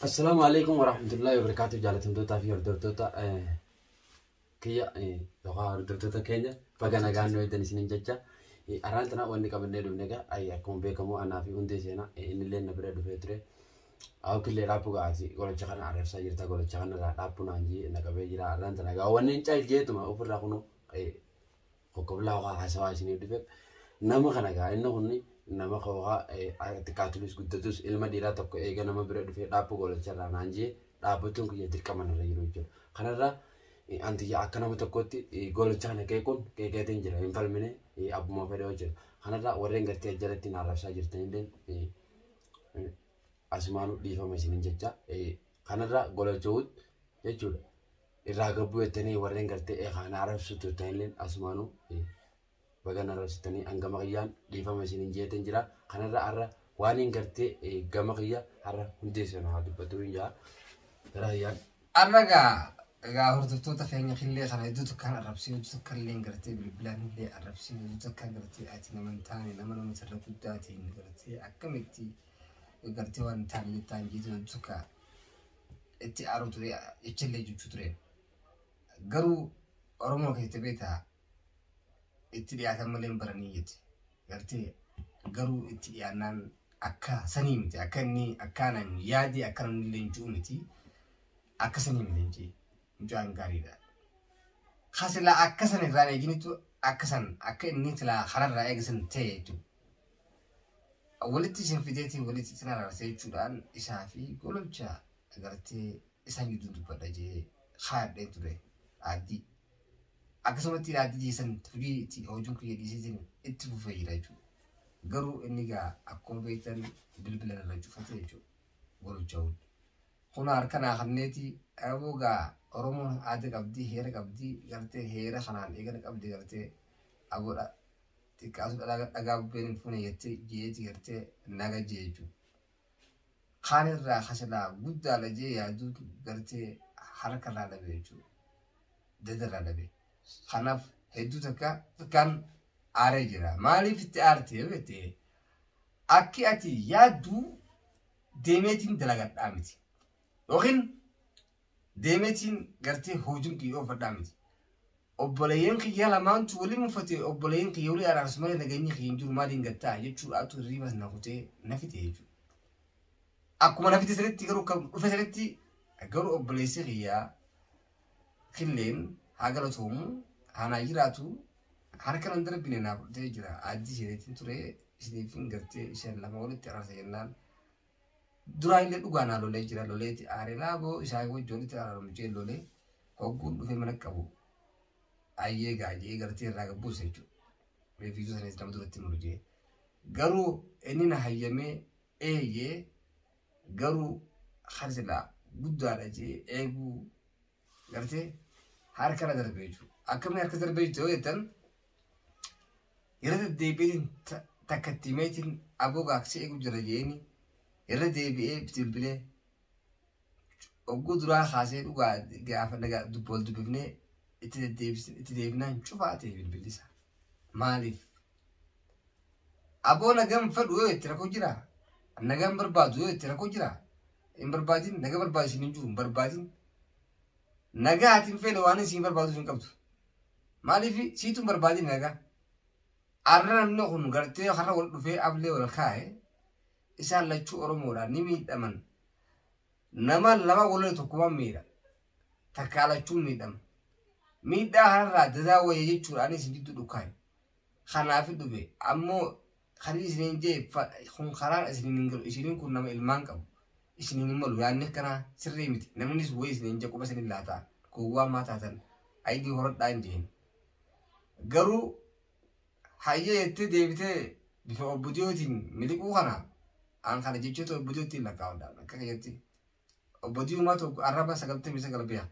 Assalaamu alaikum warahmatullahi wabarakatuh jaalatamtootaa fi hordoftoota eh, kiyya eh, yookaan hordoftoota keenya baga nagaan nu eegdan isiniin jecha eh, arraan tana wanni qabannee dhufne egaa ay, akkuma beekamu anaa fi hundee seenaa eh, inni illee na bira dhufee ture hawkillee dhaabbuu gaasi golacha kana arrabsaa jirta golacha kana irraa dhaabbuu naan jee na qabee jira arraan tana egaa wanni hin caal jeetuma ofirraa kunu eh, Tokko bilaa waa haasawaa isiniif dhufe nama kana gaa inni kun nama kookaa xiqqaatulis guddatus ilma dhiiraa tokko eega nama bira dhufee dhaabbuu godhacharraa naan jee dhaabbachuun kiyya dirqama narra jiru jechuudha. Kanarraa antiyya akka nama tokkotti golachaa na qeequun qeeqeetiin jira hin falmine abbuma fedhee hojjeta. Kanarraa warreen gartee ajjalatti na arrabsaa jirtanilleen asumaanuu dhiifama isinin jecha kanarraa golachuut jechuudha. irraa gabbuu jettanii warreen gartee eekaan arabsuu turtan illee asumaanuu bagan arabsitanii hangama kiyyaan dhiifama isin hin jeetan jira kanarra har'a waan hin gartee gama kiyya har'a hundeessan haa dubbatuu hin jaa gara kiyyaan. Har'a egaa egaa hordoftoota keenya killee kana iddoo tokko kan arrabsee iddoo tokko illee hin gartee bilbilaan illee arrabsee iddoo tokko kan gartee ati nama hin taane nama nama sirra guddaatiin gartee akkamitti gartee waan hin taane jettaan jeetu iddoo tokko itti aaru ture jechallee jechuu ture garuu oromoo keessa beektaa itti dhiyaatan malee hin baranii jette gartee garuu itti dhiyaannaan akka sanii miti akka inni akkaanan yaadi akka namni illee hin jiru miti akka sanii miti hin jee mucaan gaariidha. Kasilaa akka san irraa eeginitu akka san akka inni silaa kanarraa eegisan ta'e jechuudha. walitti isin fideetii walitti isin araarse jechuudhaan isaa fi gololcha agartee isaan gidduu dubbadha jee kaadhee ture aaddii. Akkasumatti aaddii jeesan fudhii itti hojiin kiyya dhiisiitiin itti fufee jira jechuudha. Garuu inni egaa akkuma beektan bilbila irra cufate jechuudha gololcha hundi. Kun harkanaa kanneeti aboo egaa Oromoon aada qabdi heera qabdi gartee heera kanaan eegana qabdi gartee aboodha xiqqaas dhalaga dhagaa bubbeen hin fuune jettee jeeti gartee naga jee jechuudha. Kaan irraa kasilaa guddaadha jee yaaduun gartee harka irraa dhabe jechuudha. Dada irraa dhabe. Kanaaf hedduu takka takkaan aaree jira. Maaliif itti aarte yoo jette akki ati yaaddu deemeetiin dalagadhaa miti. Yookiin deemetiin gartee hoojin kiyya oofadhaa miti. Obboleeyyan kiyya lamaantu wali mufatee obboleeyyan kiyya wali araarsu malee nageenyi kiyya hin jiru maaliin gattaa jechuudhaatu hirriibas na kutee na fite jechuudha. Akkuma na fite sanitti garuu kan dhufe sanitti garuu obboleessi kiyya killeen haa galatoomu haa naa jiraatu harka nan darbine naaf dhufee jira addii isheetiin ture isheetiin gartee isheen lama walitti araarsa jennaan Duraa illee dhugaa naa lolee jira loleeti aareraa boo isaa wajji walitti araaramu jee lolee hogguun dhufee mana qabu ayyee gaa jee gartee irraa gabbuusa jechuudha. Reefiisuu sanis nama duratti muru jee. Garuu inni na hayyamee eeyyee garuu kan silaa guddaadha jee eeguu gartee harka irra darbee jiru. Akkamiin harka darbee jiru jettan irra deddeebiin takka itti meetiin aboo gaaksee eegu jira jeeni irra deebi'ee bilbilee ogguu duraa kaasee dhugaa gaafa nagaa dubbool dubbifnee itti deddeebisne itti deebinaan cufaa ta'e bilbilisa. Maaliif Aboo nagaan fedhu yoo itti rakkoo jira. Nagaan barbaadu yoo itti rakkoo jira. Hin barbaadin nagaa barbaadu isin hin jiru hin barbaadin. Nagaa ati hin feene waan isin barbaadu hin qabdu. Maaliif siitu hin barbaadin nagaa. Arra namni kun gartee har'a wal dhufee ablee wal kaa'e isaan lachuu Oromoodhaan ni miidhaman. Nama lama walirra tokkummaan miidha. Takkaa lachuu miidhama. Miidhaa kanarraa dadaa wayya jechuudhaan isin jidduu dhukkaa'e. kanaafi dhufe ammoo kanii isiniin jee kun karaan isiniin hin galu isiniin kun nama ilmaan qabu isiniin hin malu yaanni akkanaa sirrii miti namnis wayii isiniin jee quba isiniin laataa gowwaa maa taatan ayidii horadhaa hin jeen garuu hayyee jettee deebitee bifa obbudiyootiin miliquu kana aan kana jechoota obbudiyootiin lakkaa'uudhaan akka keessatti Obbo Diimaa tokko arraba 99 biha.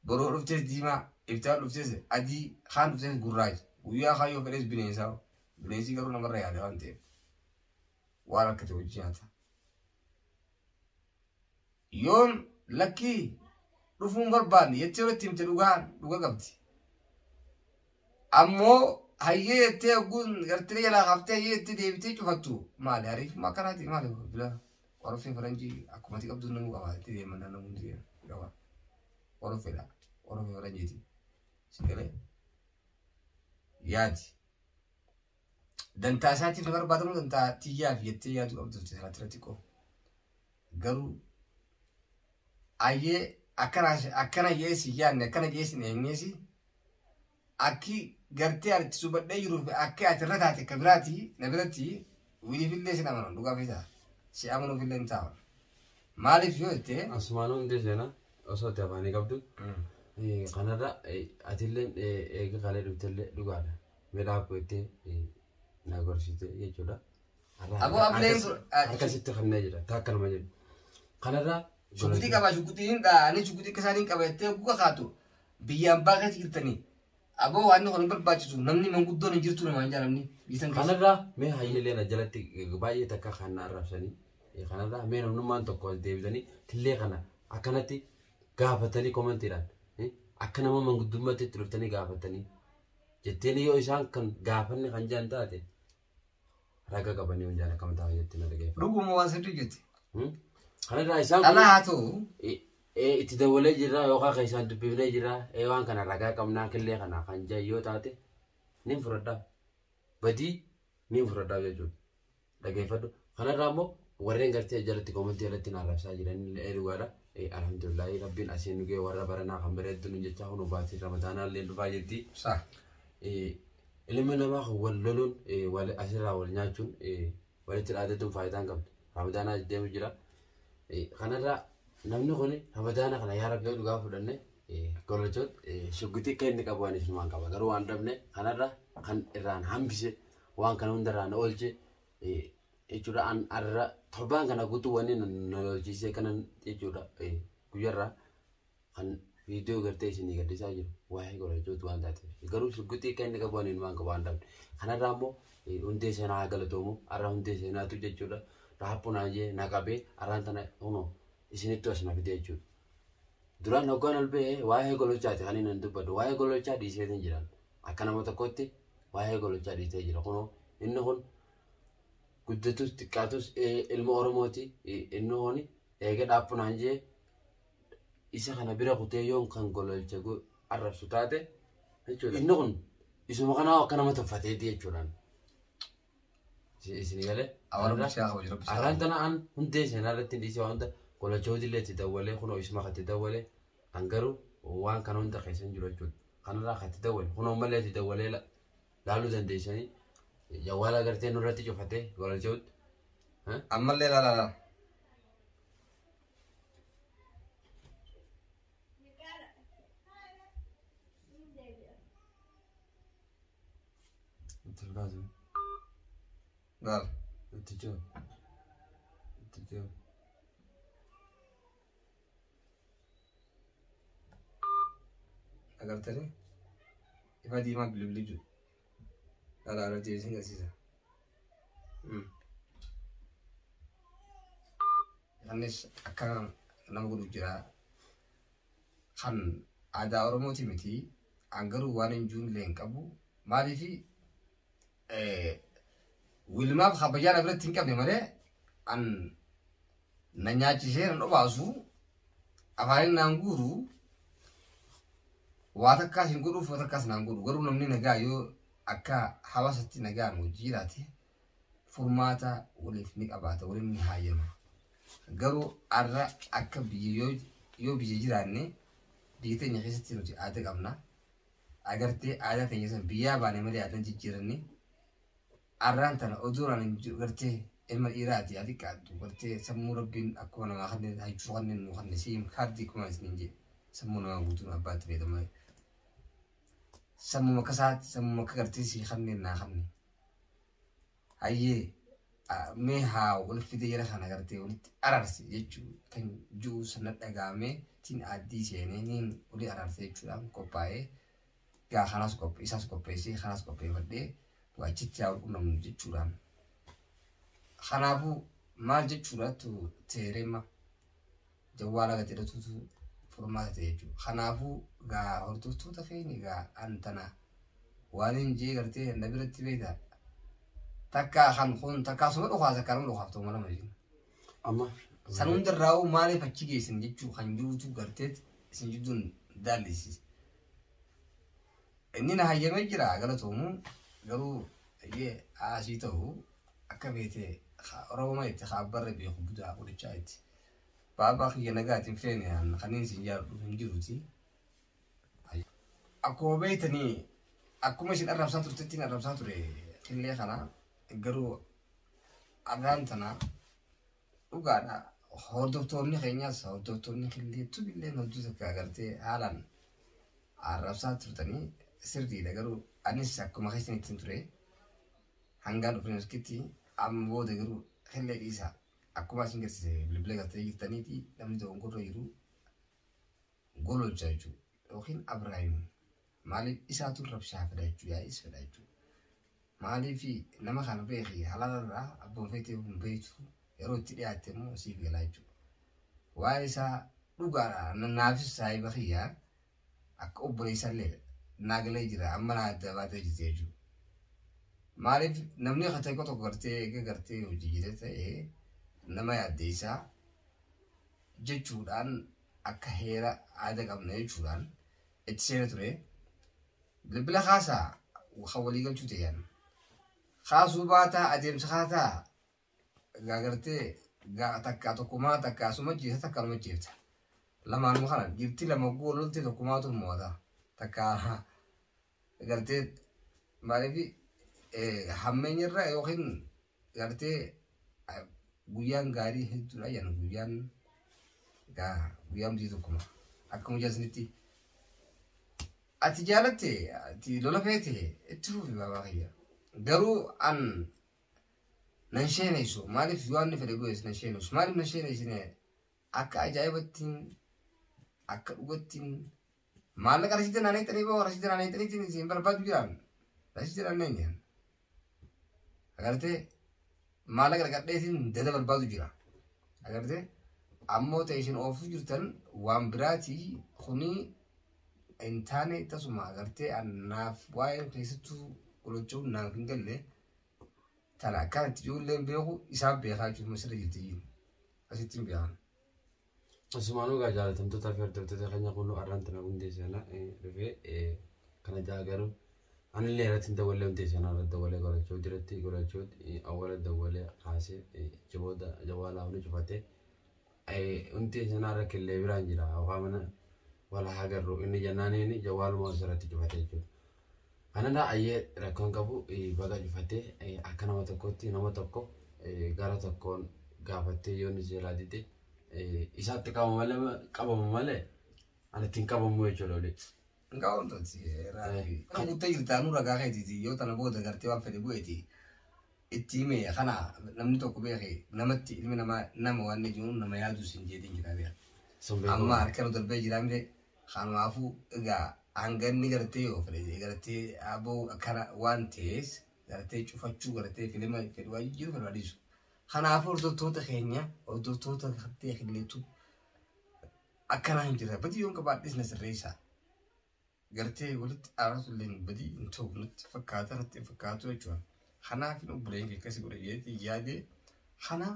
Boroo dhuftees diimaa, iftaan dhuftees adii, kaan dhuftees gurraacha. Guyyaa kaan yoo fedhees bineensaa. Bineensi garuu namarra yaada waan ta'eef. Waan akkate hojii nyaata. Yoon lakkii dhufuun barbaanne jettee yoo itti himte dhugaan dhuga qabdi. Ammoo hayyee jettee ogguun gartee jalaa kaaftee hayyee jettee deebitee cufattu maali ariifuma akkanaati maali bilaa. Oroffee faranjii akkuma ati qabdu namuu qaba itti deeman naannoo hundi deema ni qaba. Oroffeedha. Oroffee faranjiiti. Si galee yaadi. Dantaa isaatiif na barbaadamu dantaa tiyyaa fi jettee yaadu qabdu turte sana irratti xiqqoo. Garuu ayyee akkana akkana jeesi yaadne akkana jeesi hin eenyeesi Akki gartee ani itti subadhee jiruu fi akki ati irra taate ka biraati na biratti wiliifillee sin amanan dhugaa feetaa si amanuufillee hin taa'u. Maaliif yoo jette Asumaan hundee seenaa osoo itti afaanii qabdu kanarra atilleen eega kalee dhuftellee dhugaadha. Midhaa koo itti na gorsiite jechuudha. Aboo ableen sun- Harkasitti kannee jira takka nama jedhu. Kanarra shukutii qabaa shukutii hin dhaa ani shukutii akka isaan hin qaba jettee guga kaatu biyya ambaa keessa jirtanii aboo waan kun hin barbaachisu namni manguddoon hin jirtu namaan jaalamni biisan keessa. Kanarraa mee hayyileen ajalatti baay'ee takka kan na arrabsanii eh, kanarraa mee namnummaan tokko as deebitanii tillee kana akkanatti gaafatanii komantiidhaan eh, akka nama manguddummaatti itti dhuftanii gaafatanii jetteen yoo isaan kan gaafanne kan jaan taate Raga qabanii yoon jaala kam ta'a jettee na dhaggeeffadhu. Dhuguma waan sirrii jette. Hmm? Kanarraa isaan kun Dhalaa haa ta'u i- ee, itti dawalee jirra yookaan kan isaan dubbifnee jirra ee waan kana ragaa qabnaa killee kana kan jaa yoo taate nin fudhadhaa. Badii nin fudhadhaa jechuudha. Dhaggeeffadhu. Kanarraa immoo warreen gartee jalatti koomantii jalatti na arrabsaa jiran illee dhugaadha. Alhamdulillahi rabbiin asiin dhugee warra baranaa kan bareeddu nun jechaa kun hubaatiin ramadaanaa illee dhufaa jirti. Sah. Ilma namaa kan wal loluun wal asirraa wal nyaachuun walitti dhaadachuun faayidaa hin qabdu. Ramadaanaa deemu jira. Kanarraa namni kun ramadaana kana yaa rabbi dhugaa fudhanne golochoon shugguxii akka inni qabu waan ibsumaan qaba. Garuu waan dhabne kanarraa kan irraan hambise waan kana hundarraan oolche jechuudha an arra torbaan kana guutuu wanni na lolchiisee kanan jechuudha guyyarra kan viidiyoo gartee isinii gadhiisaa jiru waa'ee godhachuutu waan taateef garuu shugguxii akka inni qabu ani waan qabu waan dhabne kanarraa immoo hundee seenaa haa galatoomu arra hundee seenaatu jechuudha raappu naa jee na qabee arraan tana huno isinittu as na fide jechuudha. Duraan hoggaan ol ba'e waa'ee gololchaati kan inni dubbadhu. Waa'ee gololchaa dhiiseetiin jiran. Akka nama tokkotti waa'ee gololchaa dhiisee jira. Kunoo inni kun guddatus xiqqaatus ilma Oromooti inni kun eega dhaabbu naan jee isa kana bira kutee yoon kan gololcha arrabsu taate jechuudha. Inni kun isuma kanaa akka nama tuffateeti jechuudhaan. Isin galee. Awwaalummaa siyaa kabaju rabbi. Arraan tana an hundee seenaa irratti hin dhiisee waan hunda qolachooti illee itti dawwalee kunoo isuma kan itti dawwalee an garuu waan kana hunda keessa hin jiru jechuudha. Kanarraa kan itti dawwale kunoo ammallee itti dawwalee laaluu dandeessanii jawwaala agartee nurratti cufatee qolachooti. Ammallee laala laala. Itti hin kaasu. Maal? Itti ce'u. Itti ce'u. Agartanii? Ifa diimaa bilibili jiru. Dhala irra deebisee agarsiisa. Hmm. Innis akka nama godhu jira. Kan aadaa Oromooti miti. An garuu waanin juunillee hin qabu. Maaliif wilmaaf kabajaa na biratti hin qabne malee an na nyaachisee na dhobaasu afaanin naan guuru waa takkaas hin godhuuf waa takkaas naan godhu garuu namni nagaa yoo akka hawaasatti nagaan wajji jiraate furmaata waliif ni qabaata waliin ni haayama. Garuu arra akka biyya yoo yoo biyya jiraanne biyya teenya keessatti nuti aada qabna. Agartee aadaa teenya san biyyaa baane malee aadaan jijjiiranne. Arraan tana oduu raan hin jiru gartee ilma dhiiraati haa xiqqaattu gartee sammuu rabbiin akkuma namaa kanneen hajjuu kanneen nuu kanneen siim kaardii kuma isiniin jedhe sammuu namaa guutuun abbaatti fayyadama. Sammuu akka isaatti sammuu akka gartee sii kanneen naa kanneen. hayyee ah, mee haa wal fidee jara kana gartee walitti ararse jechuu kan jiru sana dhagaamee tiin aaddii seenee niin olii ararse jechuudhaan qophaa'ee gaa kanaas qophee isaas qopheessee kanaas qopheeffadhee waa achitti haa qunnamnu jechuudhaan kanaafuu maal jechuudhaatu teereema jawwaala gad jedhatutu furmaata ta'e jechuudha. Kanaafuu gaa hordoftoota keenya gaa an tana waan hin jee gartee na biratti beekta takka kan kun takka asuma dhukaas akka nama dhukaaf ta'u malama jechuudha. Amma San hundarraa hoo maaliif achi geessan jechuu kan jirutu gartee isin jidduun daallisiisa. Inni na hayyamee jira galatoomu garuu eeyyee asii ta'u akka beekte Oromoo itti kaabbarra beeku budaa godhachaa itti. Baabaa kiyya nagaati hin feene an kanin isin jaaladhu hin jiruti. Akkuma beeytanii akkuma isin arrabsaa turtettiin arrabsaa ture qillee kana garuu arraan tana dhugaadha hordoftoonni keenyas hordoftoonni qillee tubilleen hojii takka agartee haalaan arrabsaa turtanii sirriidha garuu anis akkuma keessan ittiin ture hangaa dhufnee nuskitti amma booda garuu qillee dhiisaa Akkuma isin garsise bilbila gattanii jirtaniiti namni dogongorra jiru gololcha jechuudha. Yookiin Abiraayim maaliif isaatu rabshaa fedha jechuu yaa'is fedha jechuu. Maaliif nama kana beeki halaalarraa abbaan feetee hin beektu yeroo itti dhiyaatte immoo siif galaa jechuudha. Waa'ee isaa dhugaadha naafis saahiba kiyyaa akka obboleessallee naa galee jira amma naa adda baatee jirti jechuudha. Maaliif namni akka ta'e tokko gartee eega gartee hojii jira ta'e nama yaaddeessaa jechuudhaan akka heera aada qabna jechuudhaan itti seena ture. Bilbila kaasaa kan walii galchuu ta'an kaasuu baataa adeemsa kaataa Gaa gartee gaa takkaa tokkumaa takkaa suma jeessa takkaa numa jeefta. Lamaanuma kana jirti lama guu loltee tokkumaatu mo'ata. Takkaa gartee maaliif hammeenyarra yookiin gartee guyyaan gaarii hedduudha jedhan guyyaan gaa guyyaan bultii tokkuma. Akkuma jasnitti. Ati jaalatte ati lola feete itti fufi baabaa kiyya. Garuu an nan sheeneessu maaliif yohanni fedhe godhes nan sheeneessu maaliif nan sheeneessine akka ajaa'ibattiin akka dhugattiin maallaqa rasiida naanee xanii boo rasiida naanee xaniitiin isin barbaadu jiraan rasiida naanee nyaan agartee maallaqa dhaqadheetiin dada barbaadu jira agartee ammoo ta'e isin oofuu jirtan waan biraatii kunii hin taane tasuma agartee annaaf waa'ee keessattuu qulachuu naaf hin galle Tana akkaan itti ijoolleen beeku isaan beekaa jechuun masirra jirti jiru. Asitti hin beekan. Asumaanuu gaa jaalatamtootaa fi hordoftoota keenya kunuu arraan tana hundee sana dhufee kana ja'a garuu anillee irratti hin dawwalee hundee sana irratti dawwalee godhachuu jiratti godhachuu awwala dawwalee kaasee jabooda jawaalaa hunda cufatee Ayi unti ejanaa rakkin lee biraan jira okaa mana wala haa garru inni jannaani inni jawwaaluma osirratti cufate jechuudha. Kanadha ayyee rakkoon qabu baga cufate akka nama tokkotti nama tokko gara tokkoon gaafattee yoo inni seelaa dide isaatti qabama malee qabama malee anatti hin qabamu jechuudha olii. Ngaa wantooti raayii. Kan guuttee jirtaa nu ragaa keetiiti yoo tana booda gartee waan fedhe bu'eeti. Itti hime kana namni tokko beeke namatti ilmi namaa nama waan inni jiruun nama yaadu sin jeetiin jira beeka. Sun beeku. Amma harka nu darbee jira mire kanumaafuu egaa hanganni gartee yoo fedhe gartee aboo akkana waan ta'ees gartee cufachuu gartee filima fedhu waan jiru fedhu adiisu. Kanaafuu hordoftoota keenya hordoftoota gartee kennitu akkanaa hin jirre badii yoon qabaadhes na sirreessaa. Gartee walitti aaratu illee badii hin ta'u natti fakkaata natti hin fakkaatu jechuudha. Kanaaf hin obboleen kee akkasii godhe jedhee yaadee kana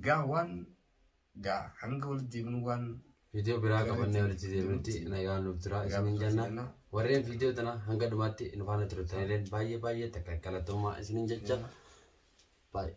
gaa waan gaa hanga walitti deemnu waan Viidiyoo biraa qabannee walitti deebinutti nagaan nuuf jira isiniin jenna. Warreen viidiyoo tana hanga dhumaatti nu faana turtanillee baay'ee baay'ee takka galatoomaa isiniin jecha. Baay'ee.